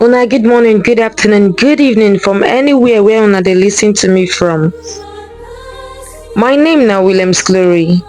Una good morning, good afternoon, good evening from anywhere where una dey listen to me from. My name na Williams Glory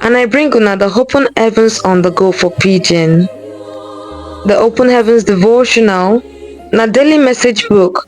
and I bring una the open heavens on the go for pidgin. The open heavens devotional na daily message book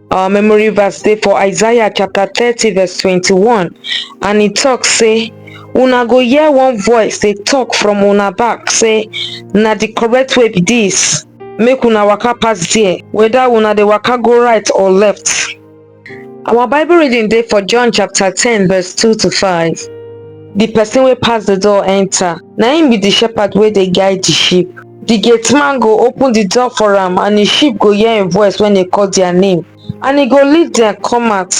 Our memory verse dey for Isaiah chapter 30 verse 21 and e talk say una go hear one voice dey talk from una back say na the correct way be this make una waka pass there whether una dey waka go right or left. Our bible reading dey for John chapter 10 verse 2 to 5. The person wey pass the door enter na him be the shepherd wey dey guide the sheep. Di gateman go open di door for am, and im sheep go hear im voice wen e call dia name, and e go lead dem come out.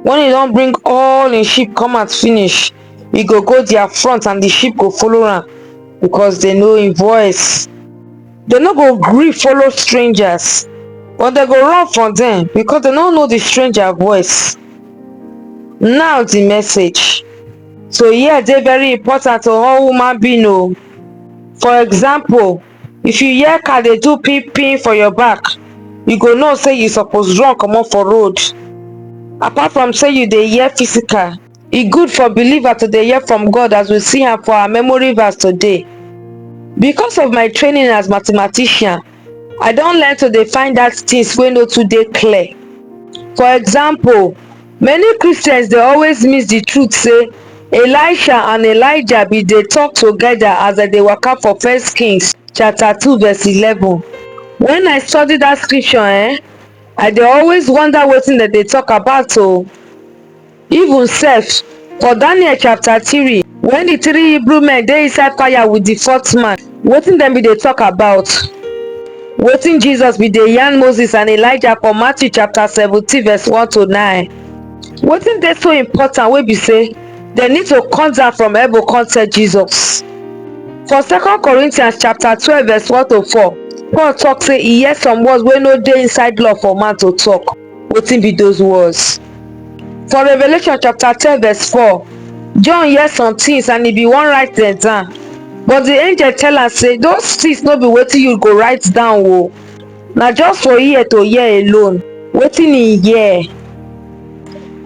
Wen e don bring all im sheep come out finish, e go go dia front and di sheep go follow am, because dem know im voice. Dem no go gree follow strangers, but dem go run from dem, because dem no know di stranger voice. Now di message. So ear dey very important to all human being o. For example, if you hear car dey do pin pin for your back, you go know say you suppose run comot for road. Apart from say you dey hear physical, e good for believer to dey hear from God as we see am for our memory verse today. Because of my training as mathematician, I don learn to dey find out things wey no too dey clear. For example, many Christians dey always miss the truth say Elisha and Elijah bin dey talk together as dem dey waka for First Kings chapter 2 verse 11. When I study that scripture eh, I dey always wonder wetin dem dey talk about o. Even sef, for Daniel chapter three, wen di three Hebrew men dey inside fire wit di fourth man, wetin dem bin dey tok about? Wetin Jesus bin dey yarn Moses and Elijah for Matthew chapter seventeen verse one to nine? Wetin dey so important wey be sey dem need to come down from heaven come tell Jesus? For second Corinthians chapter twelve verse one to four, Paul tok sey e hear some words wey no dey inside law for man to tok. Wetin be those words? For Revelation chapter 10 verse 4, John hear some things and he be wan write them down. But the angel tell am say those things no be wetin you go write down o. Na just for ear to hear alone. Wetin he hear?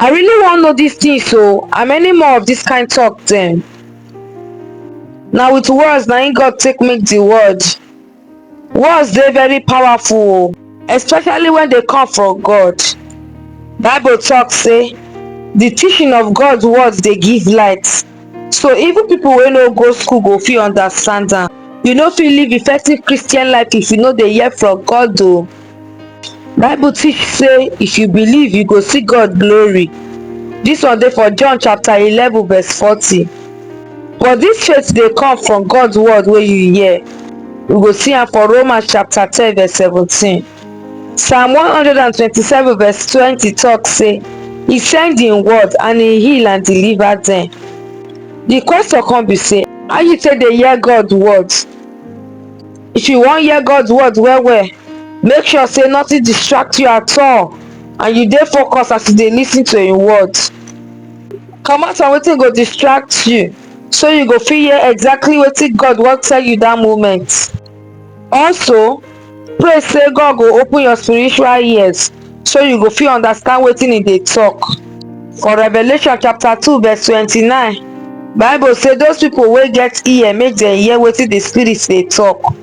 I really wan know these things o and many more of this kind talk dem. Na with words na im God take make the world. Words dey very powerful o, especially when dey come from God. Bible talk say the teaching of God's words dey give light. So even people wey no go school go fit understand am. You no fit live effective Christian life if you no dey hear from God o. Bible teach say if you believe you go see God glory. This one dey for John chapter 11 verse 40. But this faith dey come from God's word wey you hear. We go see am for Romans chapter 10 verse 17. Psalm 127 verse 20 talk say he send him word and he heal and deliver them. The question come be say how you take dey hear God word? If you wan hear God's word well well, make sure say nothing distract you at all and you dey focused as you dey lis ten to im word. Comot from wetin go distract you so you go fit hear exactly wetin God wan tell you that moment. Also, pray say God go open your spiritual ears so you go fit understand wetin e dey talk. For Revelation chapter 2 verse 29, Bible say those people wey get ear make dem hear wetin the spirit dey talk.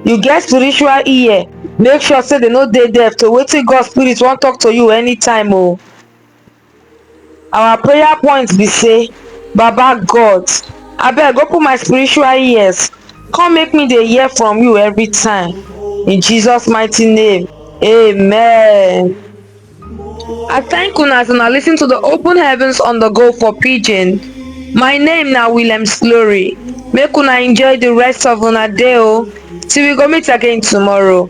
You get spiritual ear, make sure say dem no dey deaf to wetin God spirit wan talk to you anytime o. our prayer point be say baba god abeg open my spiritual ears come make me dey hear from you every time in jesus mighty name amen I thank una as una listen to the open heavens on the go for pidgin. My name na William Slory. Make una enjoy the rest of una day o. Till we go meet again tomorrow.